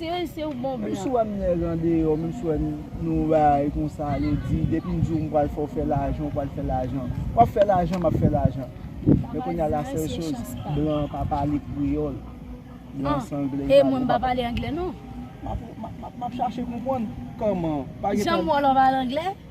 Thérèse se ou bon blan. Menm si wèm nèg andeyò menm si wèm nou bay konsa yo di depim diw mpral fèw fè lajan ou pral fè lajan wap fè lajan map fè lajan men kounya la sèl choz blan an pa pale kreyòl blan an san anglè e mwen mpa pale anglè non map chache konprann kòman janm wè lò pale anglè.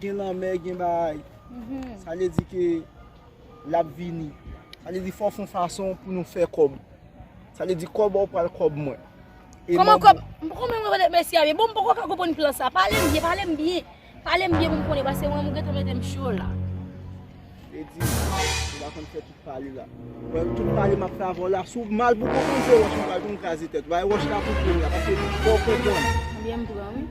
Gen lanmè gen bagay. Sa vle di ke l ap vini. Sa vle di fò w fon fason pou nou fè kòb. Sa vle di kòb ou pral kòb mwen. Kòman kòb? M poko menm konprann mèsi a byen. Bon m poko ka konprann plan sa. Pale m byen, pale m byen. Pale m byen pou m konnen paske mwen menm ou gentan mete m cho la. Vle di ou pa konn fè tout pale la. Wè tout pale m ap fè avè w la. Si w mal pou w konprann se wòch m pral pran m kraze tèt ou. Bay wòch la pou w pran m la paske fò w konprann. Byen m pran wi.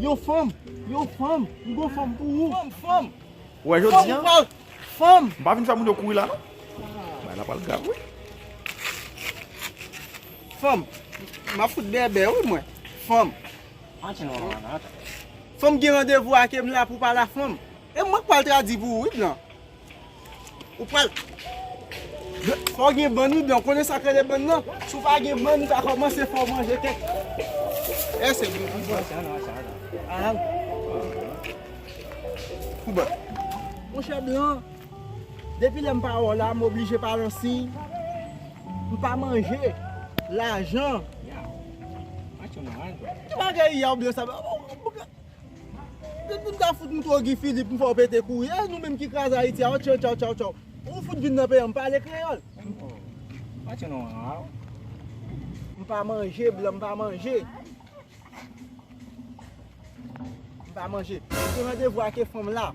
Yo fanm, yo fanm, m gon fanm pou ou. Fanm, fanm. Ou wè jodi an. Fanm, fanm. M pa vin fè moun yo kouri la non. Bagay la pral grav wi. Fanm, m ap fout bèbè wi mwen. Fanm. Antre non mama, antre. Fanm gen randevou ak e m la pou pala fanm. E mwen k pral tradi pou ou wi blan. Ou pral Fò w gen bann wi blan, ou konnen sa k rele bann nan? Si w pa gen bann ou ka kòmanse fè w manje kèk Èè se bon pou bann Aah Pou bann Monchè blan, depi lè m pa wè w la m oblije pa lan siy M pa manje Lajan Ki bagay ya w blan sa Tout moun ka fout moutrew Guy Philippe m fèw pete kou wi e nou menm ki kraze Ayiti a otchè tchaw tchaw tchaw ou fout vin nan peyi an m pale kreyòl. M pa manje blan m pa manje m pa manje m te randevou ake fanm la.